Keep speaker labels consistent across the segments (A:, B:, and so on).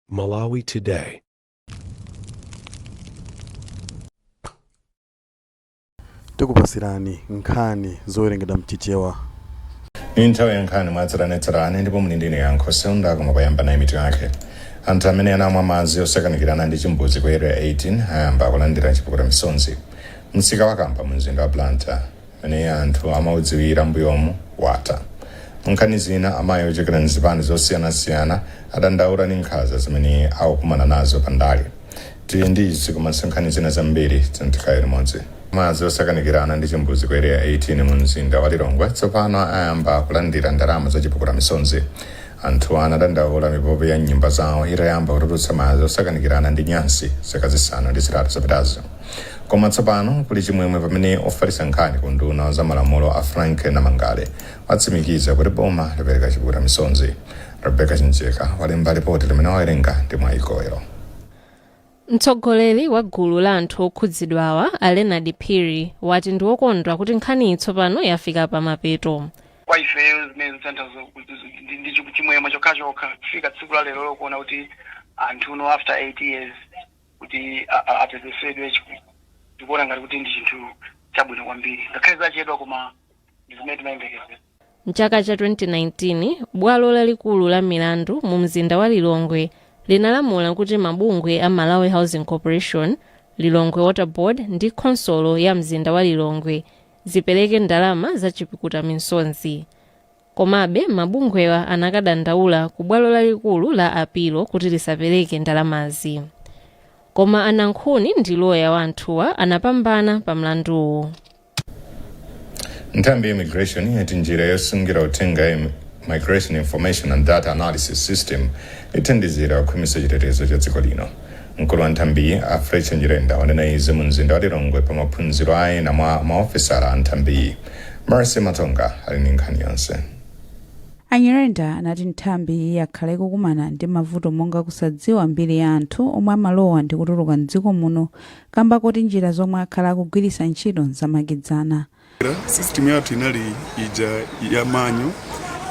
A: Malawi
B: Today. tikupasirani nkhani zowerengedwa mchichewa iyi
C: nthawi ya nkhani mwatsatanetsatane ndipo muli ndi ine yankho seunda koma payamba nayi mitu yake anthu amene anamwa madzi osakanikirana ndi chimbudzi ku area 18 ayamba kulandira chipukuta misonzi msika wa Kamba mu mzinda wa blantyre umene anthu amaudziwira m'mbuyomu watha. Munkhani zina, amayi ochokera m'zipani zosiyanasiyana adandaula ndi nkhanza zimene akukumana nazo pa ndale. Tili ndi izi komanso nkhani zina zambiri, tiyeni tikhale limodzi. Madzi osakanikirana ndi chimbudzi ku Area 18 mumzinda wa Lilongwe tsopano ayamba kulandira ndalama za chipukuta misonzi. Anthuwa anadandaula mipope ya m'nyumba zawo itayamba kutulutsa madzi osakanikirana ndi nyansi zaka zisanu ndi zitatu zapitazo. Koma tsopano kuli chimwemwe pamene ofalitsa nkhani ku unduna wa za malamulo a Frank Namangale watsimikiza kuti boma lapereka chipukuta misonzi. Rebecca Chimjeka walemba lipoti limene wawerenga ndi Mwayi
D: Koyo. Mtsogoleri wa gulu la anthu okhudzidwawa a Leonard Phiri wati ndi wokondwa kuti nkhaniyi tsopano yafika pa mapeto. kwa ifeyo
E: zimene zikutanthauza ndi ndi chi- chimwemwe chokhachokha kufika tsiku la lero lokuona kuti anthu now after 8 years kuti a- a- apepesedwe chifukwa ndikuona ngati kuti ndi chinthu chabwino kwambiri ngakhale zachedwa koma ndi zimene timayembekezera Mchaka cha 2019,
D: bwalo lalikulu la milandu mu mzinda wa Lilongwe linalamula kuti mabungwe a Malawi Housing Corporation, Lilongwe Water Board ndi khonsolo ya mzinda wa Lilongwe zipereke ndalama za chipukuta misonzi. Komabe, mabungwewa anakadandaula ku bwalo lalikulu la apilo kuti lisapereke ndalamazi. Koma a Nankhuni ndi loya wa anthuwa anapambana pa mlanduwu.
C: Nthambi ya Immigration yati njira yosungira uthenga ya Migration Information and Data Analysis System ithandizira kukhwimitsa chitetezo cha dziko lino. Mkulu wa nthambiyi, a Fletcher Nyirenda, wanena izi mu mzinda wa Lilongwe pa maphunziro a ena mwa maofesala a nthambiyi. Mercy Matonga ali ndi nkhani yonse. A
F: Nyirenda anati nthambiyi yakhala ikukumana ndi mavuto monga kusadziwa mbiri ya anthu omwe amalowa ndi kutuluka m'dziko muno kamba koti njira zomwe akhala akugwiritsa ntchito n'zamakedzana.
G: system yathu inali ija ya manual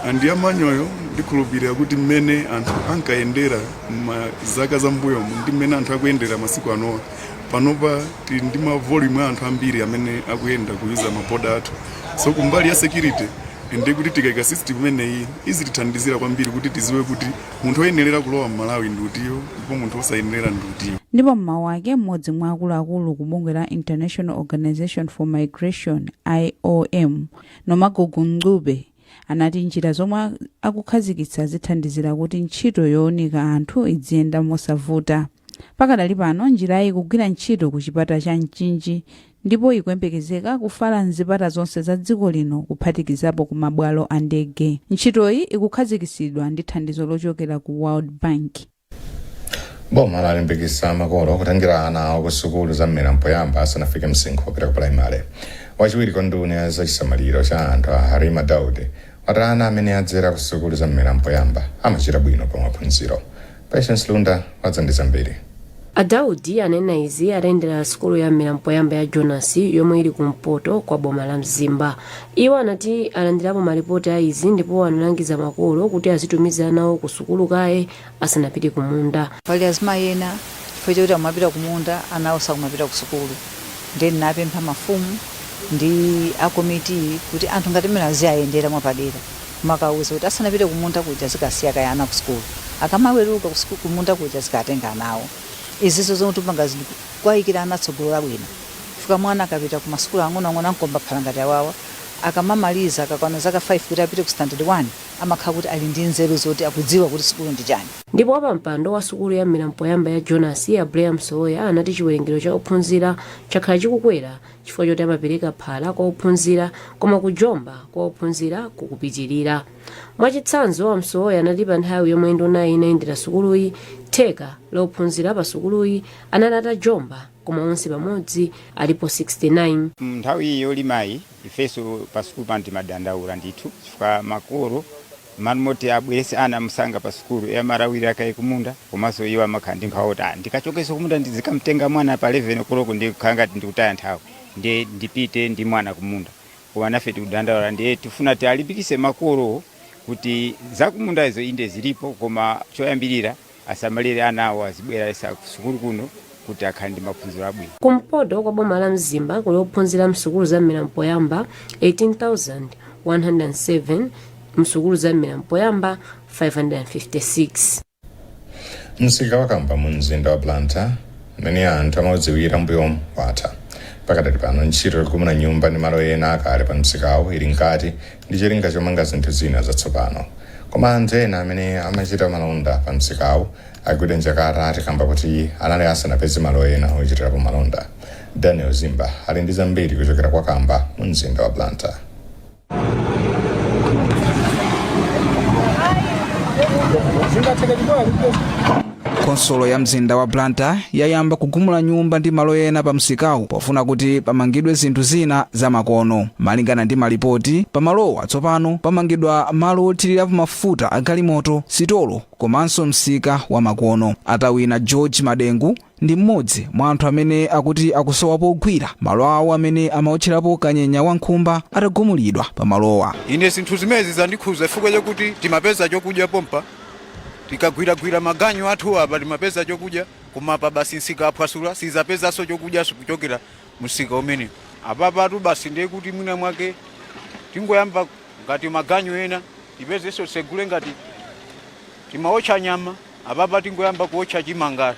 G: and ya manual-yo ndikhulupirira kuti mmene anthu ankayendera mzaka za mbuyomu ndi mmene anthu akuyendera masiku anowa panopa tili ndi ma volume a anthu ambiri amene akuyenda kuyuza maboda athu so kumbali ya security ndi kuti tikaika system imeneyi izitithandizira kwambiri kuti tidziwe kuti Munthu oyenerera kulowa m'Malawi ndi utiyo ndipo munthu osayenerera ndi utiyo? Ndipo m'mawu
F: ake, m'modzi mwa akuluakulu kubungwe la International Organization for Migration, IOM, Nomagugu Ncube anati njira zomwe akukhazikitsa zithandizira kuti ntchito yowunika anthu idziyenda mosavuta. Pakadali pano njirayi ikugwira ntchito ku chipata cha Mchinji ndipo ikuyembekezeka kufala m'zipata zonse za dziko lino kuphatikizapo ku mabwalo a ndege. Ntchitoyi ikukhazikitsidwa ndi thandizo lochokera ku World Bank.
C: boma lalimbikitsa makolo kutengera ana awo ku sukulu za mmera mpoyamba asanafike msinkhu wopita ku pulaimale wachiwiri kwa nduna ya zachisamaliro cha anthu a Halima Daudi wati ana amene adzera ku sukulu za mmera mpoyamba amachita bwino pa maphunziro. Patience Lunda wadza ndi zambiri. A Daudi
H: anena izi atayendera sukulu ya mmera mpoyamba ya Jonasi yomwe ili ku mpoto kwa boma la Mzimba. Iwo anati alandirapo malipoti a izi ndipo analangiza makolo kuti azitumiza ana awo ku sukulu kaye asanapite kumunda. Pali azimayi
I: ena chifukwa choti akumapita kumunda ana awo sakumapita kusukulu ndiye ndinapempha mafumu ndi akomiti kuti anthu ngati amenewa aziwayendera mwapadera kumakawauza kuti asanapite kumunda kuja azikasiya kaye ana kusukulu akamaweruka kusuku- kumunda kuja azikatenga ana awo izizo zomwe tipanga zinthu kuwayikira ana tsogolo labwino chifukwa mwana akapita ku masukulu ang'onoang'ono a mkombaphala ngati awawa akamamaliza akakwana zaka 5 kuti apite ku standard 1 amakhala kuti ali ndi nzeru zoti akudziwa kuti sukulu ndi chani. Ndipo wapampando
H: wa sukulu ya mmera mpoyamba ya Jonasi, a Blair Msowoya anati chiwerengero cha ophunzira chakhala chikukwera chifukwa choti amapereka phala kwa ophunzira koma kujomba kwa ophunzira kukupitilira. Mwachitsanzo, a Msowoya anati pa nthawi yomwe ndunayi inayendera sukuluyi, theka la ophunzira pa sukuluyi anali atajomba koma onse pamodzi alipo 69. M'nthawi iyi yolimayi,
J: Ifenso pa sukulu pano timadandaula ndithu chifukwa makolo m'malo moti abweretse ana msanga pa sukulu, iye amalawirira kaye kumunda komanso iwo amakhala ndi nkhawa kuti, ah, ndikachokenso kumunda ndizikam'tenga mwana pa 11 koloko ndiye kukhala ngati ndikutaya nthawi, ndiye ndipite ndi mwana kumunda. Koma nafe tikudandaula ndiye tifuna tiwalimbikitse makolowo kuti zakumunda izo inde zilipo koma choyambirira asamalire ana awo azibweretsa kusukulu kuno kuti akhale ndi maphunziro abwino kumpoto kwa boma
H: la mzimba kuli ophunzira msukulu za mmera mpoyamba 18107 msukulu za mmera mpoyamba
C: 556 msika wa Kamba mu mzinda wa blantyre mmene anthu amaudziwira mbuyomu watha pakadali pano ntchito yogumula nyumba ndi malo ena akale pa msikawo ili mkati ndi cholinga chomanga zinthu zina zatsopano. Koma anthu ena amene amachita malonda pa msikawu agwidwa njakata ati kamba kuti anali asanapeze malo ena ochitirapo malonda. Daniel Zimba ali ndi zambiri kuchokera kwa Kamba mu mzinda wa
A: Blantyre. khonsolo ya mzinda wa blantyre yayamba kugumula nyumba ndi malo ena pa msikawu pofuna kuti pamangidwe zinthu zina zamakono malingana ndi malipoti pamalowa tsopano pamangidwa malo othirirapo mafuta a galimoto sitolo komanso msika wa makono atawina george madengu ndi mmodzi mwa anthu amene akuti akusowa pogwira malo awo amene amaotcherapo kanyenya wa nkhumba atagumulidwa pamalowa ine zinthu zimezi
K: zandikhuza chifukwa chakuti timapeza chokudya pompa Tikagwiragwira maganyu athu apa timapeza chokudya koma apa basi nsika aphwasula sizapezanso chokudyanso kuchokera munsika umenewu. Apapatu basi ndiye kuti mwina mwake tingoyamba ngati maganyu ena tipezenso tsegule ngati timaotcha nyama apapa tingoyamba kuotcha chimanga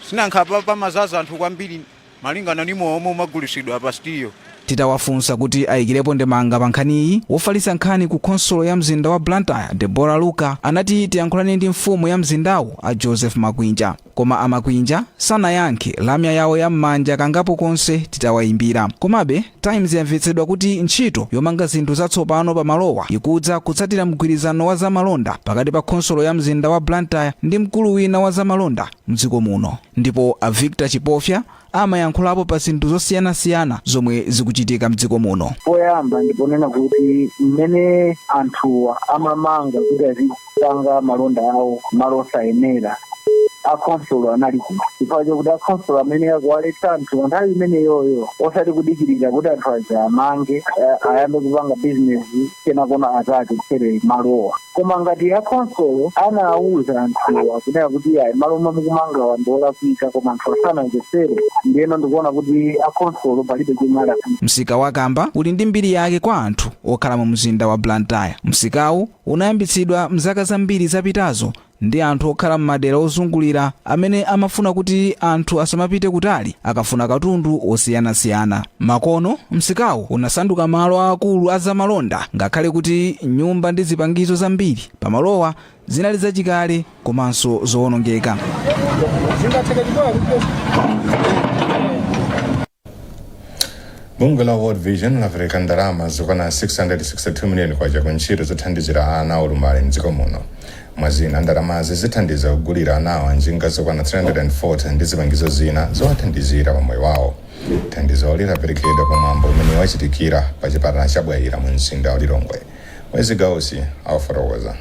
K: si nanga apapa pamazaza anthu kwambiri. malingana ndi mowa omwe umagulisidwa apa Sitiyo. Titawafunsa
A: kuti ayikilepo ndemanga pa nkhaniyi, wofalitsa nkhani ku khonsolo ya mzinda wa Blantyre, Deborah Luka, anati tiyankhulane ndi mfumu ya mzindawu, a Joseph Makwinja. Koma a Makwinja sanayankhe lamya yawo ya m'manja kangapo konse titawayimbira. Komabe, Times yamvetsedwa kuti ntchito yomanga zinthu zatsopano pa malowa ikudza kutsatira mgwirizano wa za malonda pakati pa khonsolo ya mzinda wa Blantyre ndi mkulu wina wa za malonda. mdziko muno ndipo a Victor Chipofya amayankhulapo pa zinthu zosiyanasiyana zomwe zikuchitika mdziko muno. poyamba ndiponena
L: kuti mmene anthuwa amamanga kuti azipanga malonda awo malo osayenera akhonsolo anali kuti chifukwa chakuti akhonsolo amayenera kuwaletsa anthuwa nthawi imeneyoyo osati kudikirira kuti anthu aja amange eh, ayambe kupanga bizinesi kenakona azakagwetsere malowa koma ngati akhonsolo anawuza anthuwa kunena kuti ayi malo omwe mukumangawa ndi olakwika koma anthuwo sanamvetsere ndiyeno ndikuona kuti akhonsolo palibe chomwe alakwika msika wa kamba
A: uli ndi mbiri yake kwa anthu okhala mu mzinda wa blantyre msikawu unayambitsidwa mzaka zambiri zapitazo ndi anthu okhala m'madera ozungulira amene amafuna kuti anthu asamapite kutali akafuna katundu wosiyanasiyana. Makono, msikawu unasanduka malo aakulu a zamalonda ngakhale kuti nyumba ndi zipangizo zambiri pamalowa zinali zachikale komanso zowonongeka.
C: bungwe la world vision lapereka ndalama zokwana 662 miliyoni kwacha ku ntchito zothandizira ana olumala mdziko muno mwazina ndalamazi zithandiza kugulira anawa njinga zokwana 340 ndi zipangizo zina zowathandizira pa moyo wawo thandizoli laperekedwa pa mwambo umene wachitikira pa chipatala cha bwaira mu mzinda wa lilongwe wezi gausi akufotokoza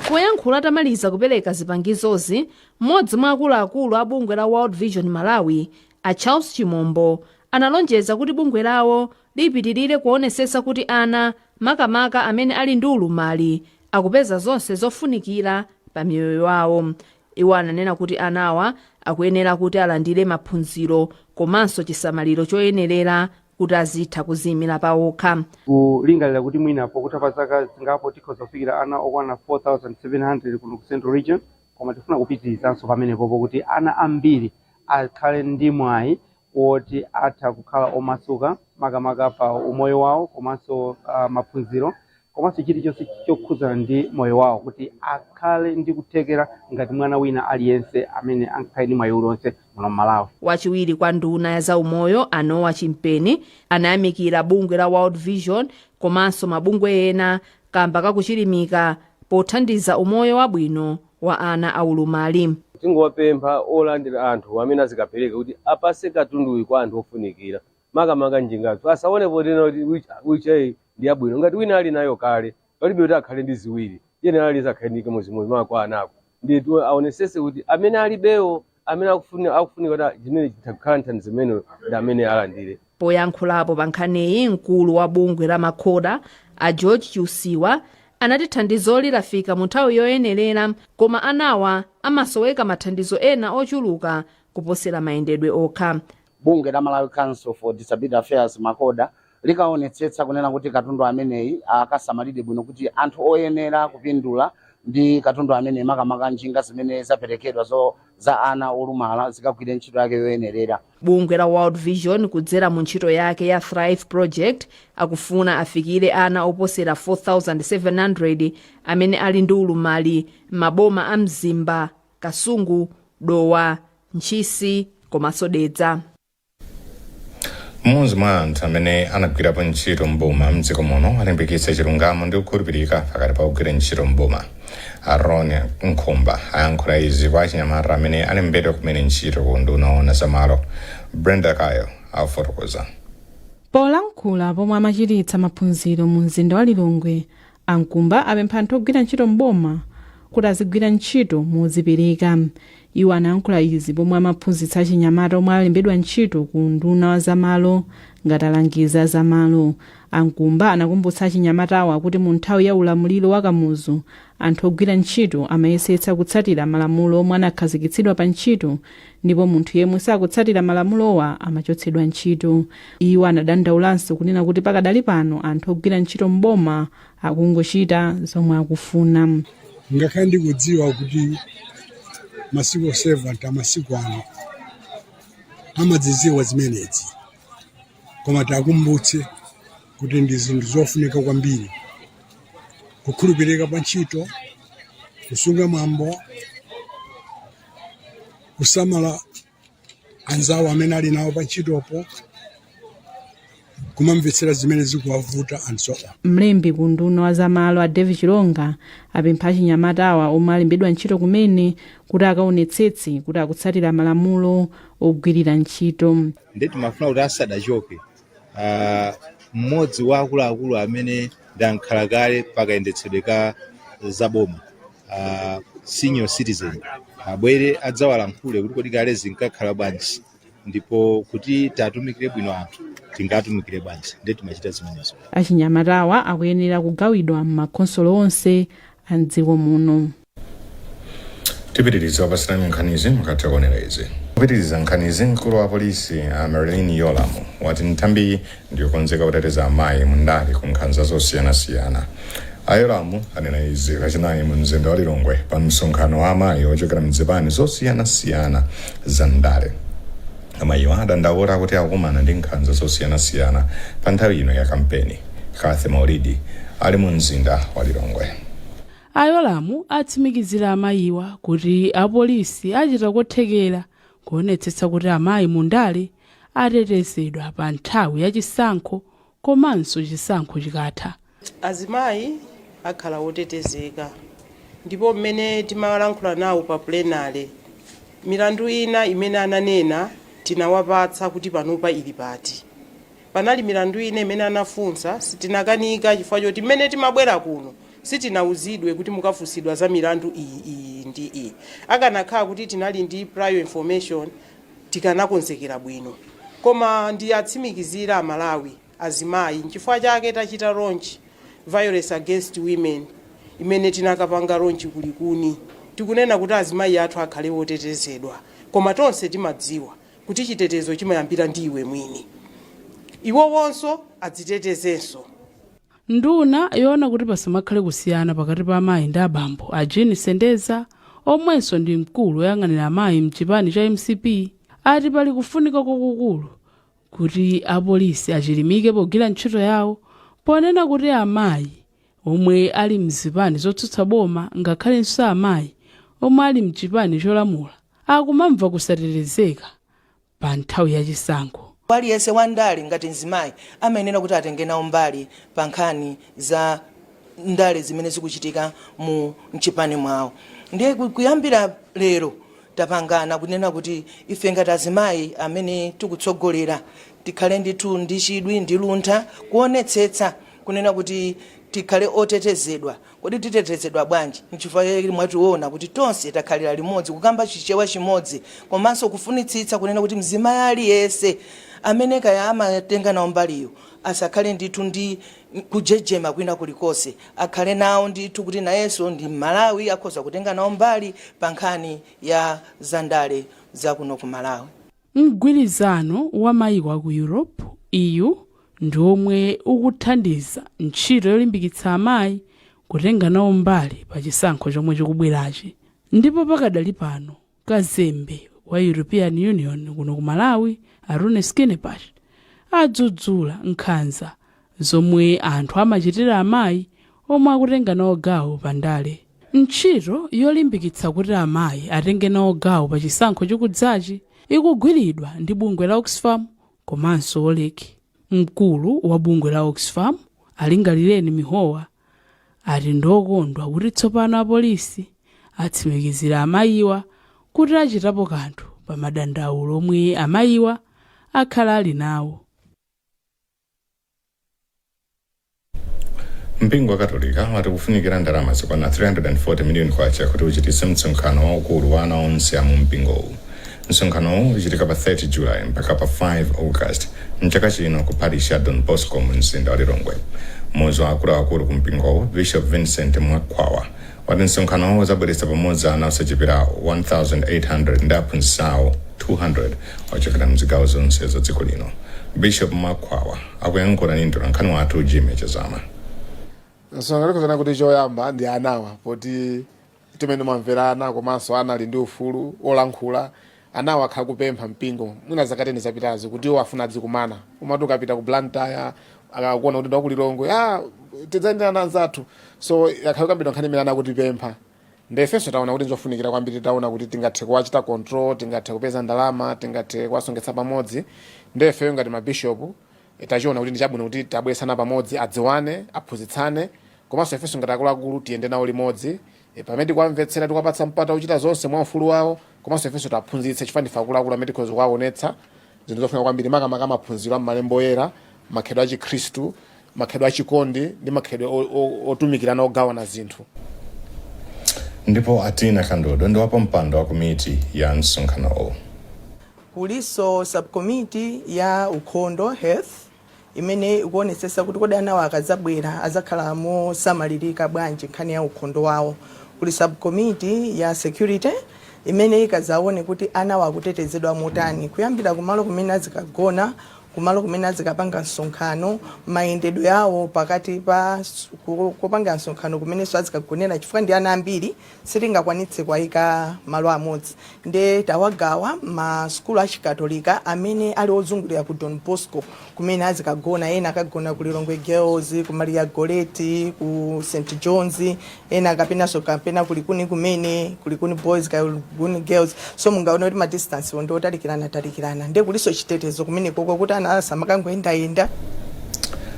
M: kuyankhula atamaliza kupereka zipangizozi M'modzi mwa akuluakulu a bungwe la World Vision Malawi, a Charles Chimombo, analonjeza kuti bungwe lawo lipitilira kuonesesa kuti ana, makamaka amene ali ndi ulumali, akupeza zonse zofunikira pa miyoyo yawo. Iwo ananena kuti anawa akuyenera kuti alandire maphunziro komanso chisamaliro choyenelera kuti azitha kuziyimira pawokha. Tikulingalira kuti
N: mwina pokutha pa zaka zingapo tikhoza kufikira ana okwana 4,700 kuno ku Central Region. koma tifuna kupitirizanso pamenepopo kuti ana ambiri akhale ndi mwayi woti atha kukhala omasuka makamaka pa umoyo wawo komanso uh, maphunziro komanso chilichonse chokhudzana ndi moyo wawo kuti akhale ndi kuthekera ngati mwana wina aliyense amene angakhale ndi mwayi uliwonse muno mmalawi wachiwiri kwa nduna
M: ya zaumoyo a noah chimpeni anayamikira bungwe la world vision komanso mabungwe ena kamba ka kuchilimika pothandiza umoyo wabwino wa ana aulumali.
O: Tingowapempha olandira anthu amene azikapereka kuti apase katunduyu kwa anthu ofunikira makamaka njingazo asaone potena kuti wheelchair ndi yabwino ngati wina ali nayo kale palibe kuti akhale ndi ziwiri tiyenera aliyense akhale ndi chimodzimodzi maka kwa anako ndiye aonesese kuti amene alibewo amene akufunika kuti chimene chitakhala thandizo limenelo ndi amene alandire poyankhulapo
M: pa nkhaniyi mkulu wa bungwe la macoda a george chiusiwa anati thandizoli lafika mu nthawi yoyenerera koma anawa amasoweka mathandizo ena ochuluka kuposera mayendedwe okha bungwe la malawi
P: council for disability affairs macoda likaonetsetsa kunena kuti katundu ameneyi akasamalidwe bwino kuti anthu oyenera kupindula ndi katundu ameneyi makamaka njinga zimene zaperekedwa za ana olumala zikagwire ntchito yake yoyenerera bungwe la world
M: vision kudzera mu ntchito yake ya thrive project akufuna afikire ana oposera 4700 amene ali ndi ulumali m'maboma a mzimba kasungu dowa ntchisi komanso dedza
C: mmodzi mwa anthu amene anagwirapo ntchito m'boma mdziko muno alimbikitsa chilungamo ndi kukhulupirika pakati pa ogwira ntchito m'boma a ron nkomba ayankhula izi kwa achinyamata amene alembedwa kumene ntchito ku unduna woona za malo brenda kayo
Q: akufotokoza polankhula pomwe amachititsa maphunziro mu mzinda wa lilongwe a nkomba apempha anthu ogwira ntchito m'boma kuti azigwira ntchito mozipereka Iwo anayankhula izi pomwe amaphunzitsa achinyamata omwe alembedwa ntchito ku unduna wa za malo ngati alangizi a za malo. A Nkhumba anakumbutsa achinyamatawa kuti mu nthawi ya ulamuliro wa Kamuzu, anthu ogwira ntchito amayesetsa kutsatira malamulo omwe anakhazikitsidwa pa ntchito ndipo munthu yemwe sakutsatira malamulowa amachotsedwa ntchito. Iwo anadandaulanso kunena kuti pakadali pano anthu ogwira ntchito m'boma akungochita zomwe akufuna. Ngakhale
R: ndikudziwa kuti ma civil servant amasiku ano amadziziwa zimenezi, koma tiakumbutse kuti ndi zinthu zofunika kwambiri, kukhulupirika pa ntchito, kusunga mwambo, kusamala anzawo amene ali nawo pantchitopo kumamvetsera zimene zikuwavuta and so on. Mlembi ku unduna wa
Q: zamalo a Davie Chilonga apempha achinyamatawa omwe alembedwa ntchito kumene kuti akaonetsetse kuti akutsatira malamulo ogwirira ntchito. nde timafuna kuti
S: asanachoke Ah, mmodzi wa akuluakulu amene ndi amkhala kale pakayendetsedwe ka zaboma ah, senior citizen abwere adzawalankhule kuti kodi kale zinkakhala bwanji ndipo kuti tiatumikire bwino anthu tingatumikire bwanji nde timachita zimenezo achinyamatawa
Q: akuyenera kugawidwa m'makhonsolo onse a mdziko muno
C: tipitiriza kukupatsirani nkhanizi mukatha kuonera izi kupitiriza nkhanizi mkulu wa polisi a merlyne yolamu wati nthambiyi ndiyokonzeka kuteteza amayi mu ndale ku nkhanza zosiyanasiyana a yolamu anena izi lachinayi mu mzinda wa lilongwe pa msonkhano wa amayi ochokera mzipani zosiyanasiyana za ndale amayiwo adandaula kuti akukumana ndi nkhanza zosiyanasiyana pa nthawi ino ya kampeni kathy maulidi ali mu mzinda wa lilongwe A Yolamu
T: atsimikizira amayiwa kuti apolisi achita kothekera kuonetsetsa kuti amayi mu ndale atetezedwa pa nthawi ya chisankho komanso chisankho chikatha. Azimayi
U: akhala otetezeka ndipo mmene timalankhula nawo pa plenary, milandu ina imene ananena tinawapatsa kuti panopa ili pati. Panali milandu ina imene anafunsa, sitinakanika chifukwa choti mmene timabwera kuno Sitinauzidwe kuti mukafunsidwa za milandu iyi, iyi ndi iyi. Akanakhala kuti tinali ndi prior information tikanakonzekera bwino. Koma ndiatsimikizire a Malawi, azimayi, nchifukwa chake tachita launch Violence against women imene tinakapanga launch ku Likuni. Tikunena kuti azimayi athu akhale otetezedwa. Koma tonse timadziwa kuti chitetezo chimayambira ndi iwe mwini. Iwowonso adzitetezenso.
T: Nduna yoona kuti pasamakhale kusiyana pakati pa amayi ndi abambo, a Jean Sendeza, omwenso ndi mkulu oyang'anira amayi m'chipani cha mcp, ati pali kufunika kwakukulu kuti apolisi achilimike pogwira ntchito yawo ponena kuti amayi omwe ali m'zipani zotsutsa boma ngakhalenso amayi omwe ali m'chipani cholamula akumamva kusatetezeka pa nthawi ya chisankho. Aliyense wa ndale
V: ngati mzimayi amayenera kuti atenge nawo mbali pa nkhani za ndale zimene zikuchitika mu mchipani mwawo. Ndiye kuyambira lero tapangana kunena kuti ife ngati azimayi amene tikutsogolera tikhale ndithu ndi chidwi ndi luntha kuonetsetsa kunena kuti tikhale otetezedwa. Kodi titetezedwa bwanji? N'chifukwa chake mwationa kuti tonse takhalira limodzi, kukamba Chichewa chimodzi komanso kufunitsitsa kunena kuti mzimayi aliyense amene kaya amatenga nawo mbaliyo asakhale ndithu ndi kujejema kwina kulikonse. Akhale nawo ndithu kuti nayenso ndi Mmalawi, akhoza kutenga nawo mbali pa nkhani ya zandale za kuno ku Malawi.
T: Mgwirizano wa mayiko a ku Europe, EU, ndi omwe ukuthandiza ntchito yolimbikitsa amayi kutenga nawo mbali pa chisankho chomwe chikubwerachi ndipo pakadali pano kazembe wa European Union kuno ku Malawi a Rune Skinnebach adzudzula nkhanza zomwe anthu amachitira amayi omwe akutenga nawo gawo pa ndale. Ntchito yolimbikitsa kuti amayi atenge nawo gawo pa chisankho chikudzachi ikugwiridwa ndi bungwe la Oxfam komanso Wolrec. Mkulu wa bungwe la Oxfam, a Lingalireni Mihowa, ati ndi okondwa kuti tsopano apolisi atsimikizira amayiwa kuti achitapo kanthu pa madandaulo omwe amayiwa akhala ali nawo.
C: mpingo wa katolika wati kufunikira ndalama zokwana 340 miliyoni kwacha kuti uchititse msonkhano waukulu wa ana onse a mu mpingowu msonkhanowu uchitika pa 30 july mpaka pa 5 august mchaka chino ku parish ya don bosco mu mzinda wa lilongwe mmodzi wa akuluakulu ku mpingowu bishop vincent mwakhwawa wati msonkhanowu udzabweretsa pamodzi ana osachepera 1,800 ndi aphunzitsi awo 200 ochokera m'zigawo zonse za dziko lino. Bishop Mwakhwawa akuyankhula ndi mtolankhani wathu Jimmy
B: Chazama. Msonkhano tikunena kuti choyamba ndi anawa poti timanena zomvera ana komanso ana ali ndi ufulu olankhula Anawa akhala akupempha mpingo mwina zaka teni zapitazi kuti iwo afuna adzikumana. Umati ukapita ku Blantyre akakuona kuti ndi wa ku Lilongwe, ah, tidzayendera ana anzathu. So yakhala ikukambidwa nkhani imene anakutipempha. Nde ifenso taona kuti n'zofunikira kwambiri titaona kuti tingathe kuwachita control, tingathe kupeza ndalama, tingathe kuwasonkhetsa pamodzi. Nde ifeyo ngati mabishopu eh, tachiona kuti ndi chabwino kuti tiwabweretse ana pamodzi adziwane, aphunzitsane komanso ifenso ngati akuluakulu tiyende nawo limodzi E, pamene tikuwamvetsera tikuwapatsa mpata wochita zonse mwa ufulu wawo komanso ifenso tiwaphunzitse chifukwa ndife akuluakulu amene tikhoza kuwaonetsa zinthu zofunika kwambiri makamaka maphunziro a m'malemba oyera makhalidwe a chikhristu makhalidwe a chikondi ndi makhalidwe o- o- otumikirana ogawana
C: zinthu ndipo atina kandodo ndi wapampando wa komiti ya msonkhanowu
E: kulinso subcommittee ya ukhondo health imene ikuonetsetsa kuti kodi anawa akadzabwera adzakhala mosamalirika bwanji nkhani ya ukhondo wawo. Kuli subcommittee ya security imene ikadzaone kuti anawa akutetezedwa motani kuyambira kumalo kumene azikagona, kumalo kumene azikapanga msonkhano, mayendedwe awo pakati pa, ku, kopangera msonkhano kumenenso azikagonera chifukwa ndi ana ambiri. sitingakwanitse kuwaika malo amodzi nde tawagawa m'masukulu a chikatolika amene ali ozungulira ku Don Bosco kumene azikagona ena akagona ku Lilongwe Girls ku Maria Goretti ku St Johns ena kapenanso kapena ku Likuni kumene ku Likuni Boys ku Likuni Girls so mungaone kuti ma distance wo ndiotalikirana talikirana ndiye kulinso chitetezo kumenekoko kuti ana
C: asamakangoyendayenda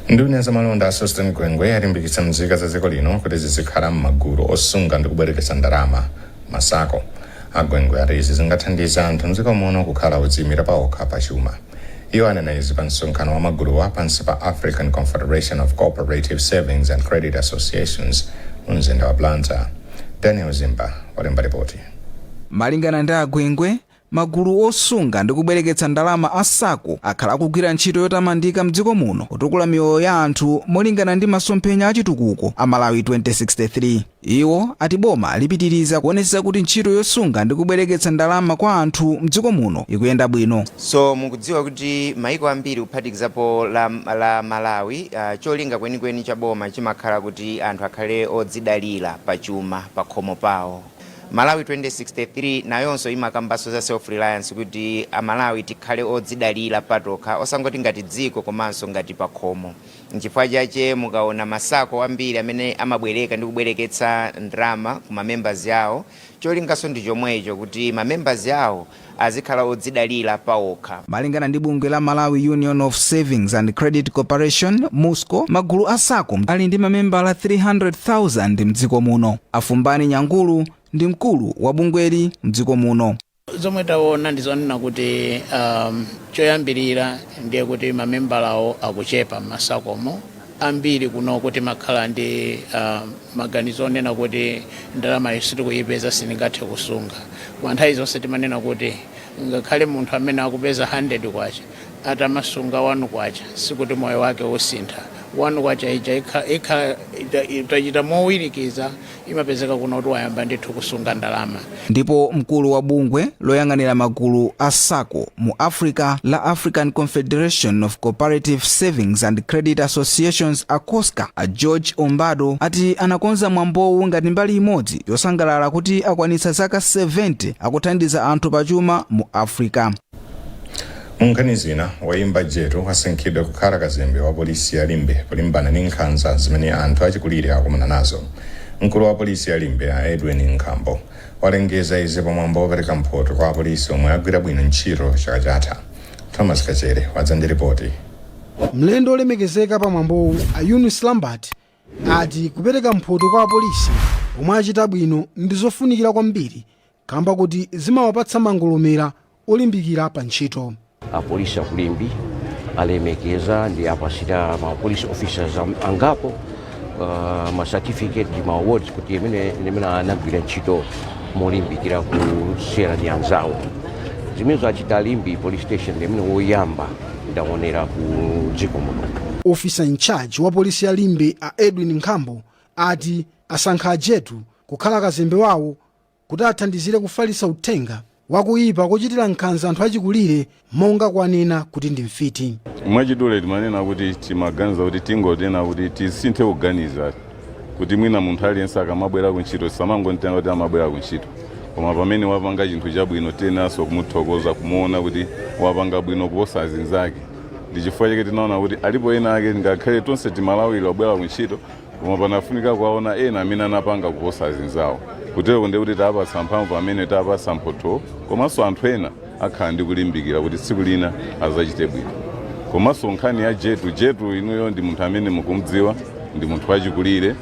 C: nduna ya zamalonda a Sosten Gwengwe yalimbikitsa mzika za dziko lino kuti zizikhala m'magulu osunga ndi kubwereketsa ndalama masako agwengwe ati izi zingathandiza anthu mdziko muno kukhala odziyimira paokha pa chuma iwo anena izi pa msonkhano wa maguluwa pansi pa african confederation of cooperative savings and credit associations mu mzinda wa blantyre daniel zimba walemba ripoti
A: Malingana ndi a Gwengwe, magulu osunga ndi kubwereketsa ndalama a Sacco akhala akugwira ntchito yotamandika mdziko muno kutukula miyoyo ya anthu molingana ndi masomphenya a chitukuko a Malawi 2063. Iwo ati boma lipitiriza kuonetsetsa kuti ntchito yosunga ndi kubwereketsa ndalama kwa anthu mdziko muno ikuyenda bwino. So
W: mukudziwa kuti maiko ambiri kuphatikizapo la, la Malawi uh, cholinga chenicheni cha boma chimakhala kuti anthu akhale odzidalira pa chuma pakhomo pawo. Malawi 2063 nayonso imakambanso za self reliance kuti a Malawi tikhale odzidalira patokha osangoti ngati dziko komanso ngati pakhomo. Nchifukwa chache mukaona ma sacco ambiri amene amabwereka ndi kubwereketsa ndalama ku ma members awo, cholinganso ndi chomwecho kuti ma members awo azikhala odzidalira paokha. Malingana ndi bungwe
A: la Malawi Union of Savings and Credit Corporation, MUSCO, magulu a sacco ali ndi mamembala 300,000 m'dziko muno. A Fumbani Nyangulu ndi mkulu wa bungweli m'dziko muno. Zomwe
X: taona ndi zonena kuti um, choyambirira ndiye kuti mamembalawo akuchepa m'masakomo ambiri kuno kuti makhala ndi um, Maganizo onena kuti ndalamayo sitikuipeza, siningathe kusunga, koma nthawi zonse timanena kuti ngakhale munthu amene akupeza K100 atamasunga K1 sikuti moyo wake usintha. K1 ija ikha- ikha- ita- itachita mowirikiza imapezeka kuno kuti wayamba ndithu kusunga ndalama. Ndipo
A: mkulu wa bungwe loyang'anira magulu a sacco mu Africa la African Confederation of Cooperative Savings and Credit Associations ACOSCA a George Ombado ati anakonza mwambowu ngati mbali imodzi yosangalala kuti akwanitsa zaka 70 akuthandiza anthu pachuma mu Africa.
C: Munkhani zina, oyimba Jetu wasankhidwa kukhala kazembe wa polisi ya Limbe polimbana ndi nkhanza zimene anthu achikulire akumana nazo. Mkulu wa polisi ya Limbe a Edwin Nkhambo walengeza izi pa mwambo wopereka mphoto kwa apolisi omwe agwira bwino ntchito chaka chatha. Thomas Kachere wadza ndi lipoti.
R: Mlendo olemekezeka pa mwambowu a Eunice Lambert ati kupereka mphoto kwa apolisi omwe achita bwino ndi zofunikira kwambiri kamba kuti zimawapatsa mangolomera olimbikira pa ntchito. Apolisi aku
D: Limbe alemekeza ndi apatsira ma police officers am- angapo uh, ma certificate ndi ma awards kuti imene imene anagwira ntchito molimbikira kusiyana ndi anzawo zimenezo achita a Limbe police station ndi imene woyamba ndaonera ku dziko muno officer in charge
R: wa polisi ya limbe a edwin nkhambo ati asankha ajetu kukhala kazembe wawo kuti athandizire kufalitsa uthenga wa kuipa kochitira nkhanza anthu achikulire monga kuwanena kuti ndi mfiti. Mwachidule timanena
F: kuti timaganiza kuti tingonena kuti tisinthe kuganiza kuti mwina munthu aliyense akamabwera ku ntchito tisamangontenga kuti amabwera ku ntchito koma pamene wapanga chinthu chabwino tiyeneranso kumuthokoza kumuona kuti wapanga bwino kuposa azinzake ndi chifukwa chake tinaona kuti alipo ena ake ngakhale tonse timalawira wobwera ku ntchito koma panafunika kuwaona ena amene anapanga kuposa azinzawo kutereko ndi kuti tawapatsa mphamvu pamene tawapatsa mphotho komanso anthu ena akhala ndi kulimbikira kuti tsiku lina azachite bwino komanso nkhani ya jetu jetu inuyo ndi munthu amene mukumudziwa ndi munthu wachikulire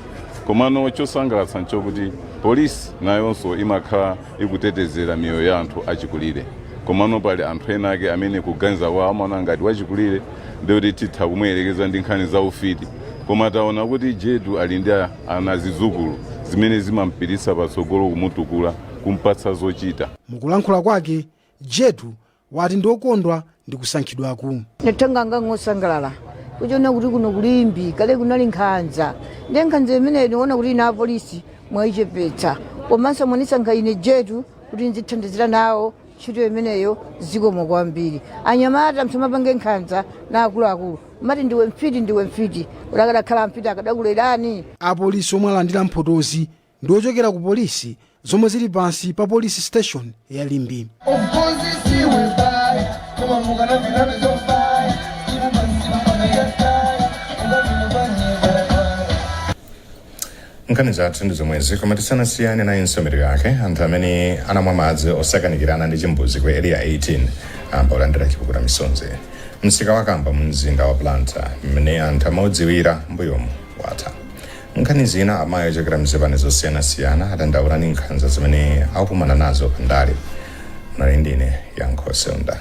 F: komano chosangalatsa nchokuti polisi nayonso imakhala ikutetezera miyoyo ya anthu achikulire komano pali anthu ena ake amene kuganiza kwawo amaona ngati wachikulire ndikuti titha kumuyerekeza ndi nkhani za ufiti koma taona kuti jetu ali ndi a- ana zidzukulu zimene zimampititsa patsogolo kumutukula kumpatsa zochita mukulankhula kwake
R: jetu wati ndi okondwa ndi kusankhidwaku
G: natenga ngangosangalala kuchiona kuti kuno ku Limbe kale kunali nkhanza ndi nkhanza imene niona kuti ine apolisi mwaichepetsa komanso mwanisankha ine jetu kuti nzithandizira nawo ntchito imeneyo zikomo kwambiri anyamata msamapange nkhanza na akuluakulu mati ndiwe mfiti ndiwe mfiti akadakhala mfiti akadakulerani apolisi omwe
R: alandira mphotozi ndi ochokera ku polisi zomwe zili pansi pa polisi station ya Limbe
C: nkhani zathu ndi zomwezi koma tisanasiyane nayi mitu yake anthu amene anamwa madzi osakanikirana ndi chimbuzi ku area 18 ayamba kulandira chipukuta misozi msika wa kamba mu mzinda wa Blantyre mmene anthu amaudziwira mbuyomu watha nkhani zina amayi ochokera mzipani zosiyanasiyana adandaula ndi nkhanza zimene akukumana nazo pandale munali ndi ine yankho seunda